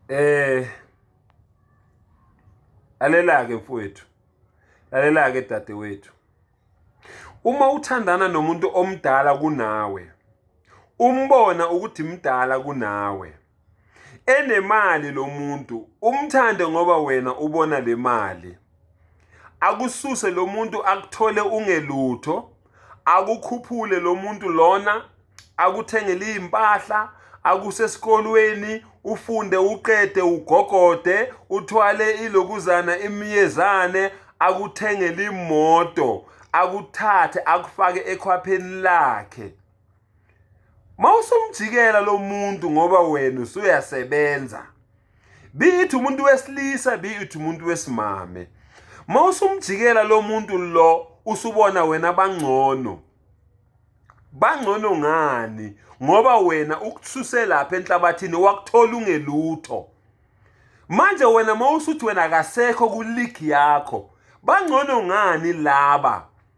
Eh Lalela-ke mfowethu. Lalela-ke dadewethu. Uma uthandana nomuntu omdala kunawe, umbona ukuthi mdala kunawe. Enemali lo muntu, umthande ngoba wena ubona le mali. akususe lo muntu akuthole ungelutho akukhuphule lo muntu lona akuthengele izimpahla akusesikolweni ufunde uqede ugogode uthwale ilokuzana imiyezane akuthengele imoto akuthathe akufake ekhwapheni lakhe mawusumjikela lo muntu ngoba wena usuyasebenza be it umuntu wesilisa be it umuntu wesimame uma usumjikela lo muntu lo usubona wena bangcono bangcono ngani ngoba wena ukususe lapha enhlabathini wakuthola ungelutho manje wena uma usuthi wena akasekho kuligi yakho bangcono ngani laba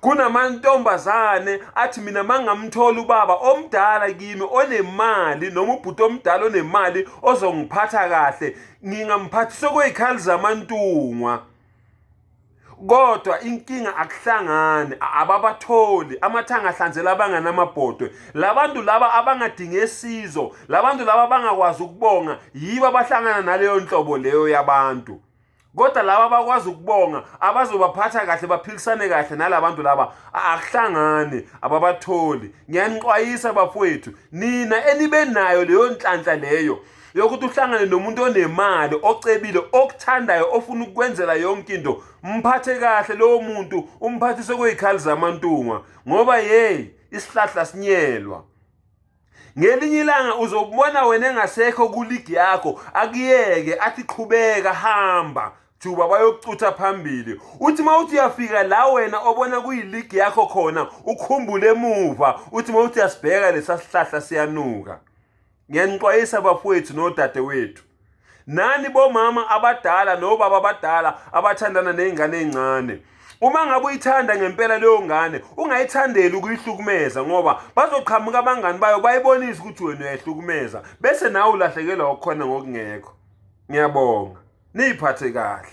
kunamantombazane athi mina mangamthola ubaba omdala kimi onemali noma ubhuti omdala onemali ozongiphatha kahle ngingamphathisa okweyikhali zamantungwa kodwa inkinga akuhlangani ababatholi amathanga ahlanzela abangani amabhodwe labantu laba abangadinge sizo labantu laba abangakwazi ukubonga yibo abahlangana naleyo nhlobo leyo yabantu kodwa laba abakwazi ukubonga abazobaphatha kahle baphilisane kahle nalabantu laba akuhlangane ababatholi ngiyanixwayisa bafowethu nina enibe nayo leyo nhlanhla leyo yokuthi uhlangane nomuntu onemali ocebile okuthandayo ofuna ukukwenzela yonke into mphathe kahle lowo muntu umphathise kweyikhali zamantunga ngoba yeyi isihlahla sinyelwa ngelinye ilanga uzobona wena engasekho kuligi yakho akuyeke athi qhubeka hamba juba bayokucutha phambili uthi uma uthi uyafika la wena obona kuyiligi yakho khona ukhumbule emuva uthi uma uthi uyasibheka lesa sihlahla siyanuka ngiyanixwayisa bafowethu nodadewethu nani bomama abadala nobaba abadala abathandana nezingane ezincane uma ngabe uyithanda ngempela leyo ngane ungayithandeli ukuyihlukumeza ngoba bazoqhamuka abangani bayo bayibonise ukuthi wena uyayihlukumeza bese nawe ulahlekelwa okukhona ngokungekho ngiyabonga niyiphathe kahle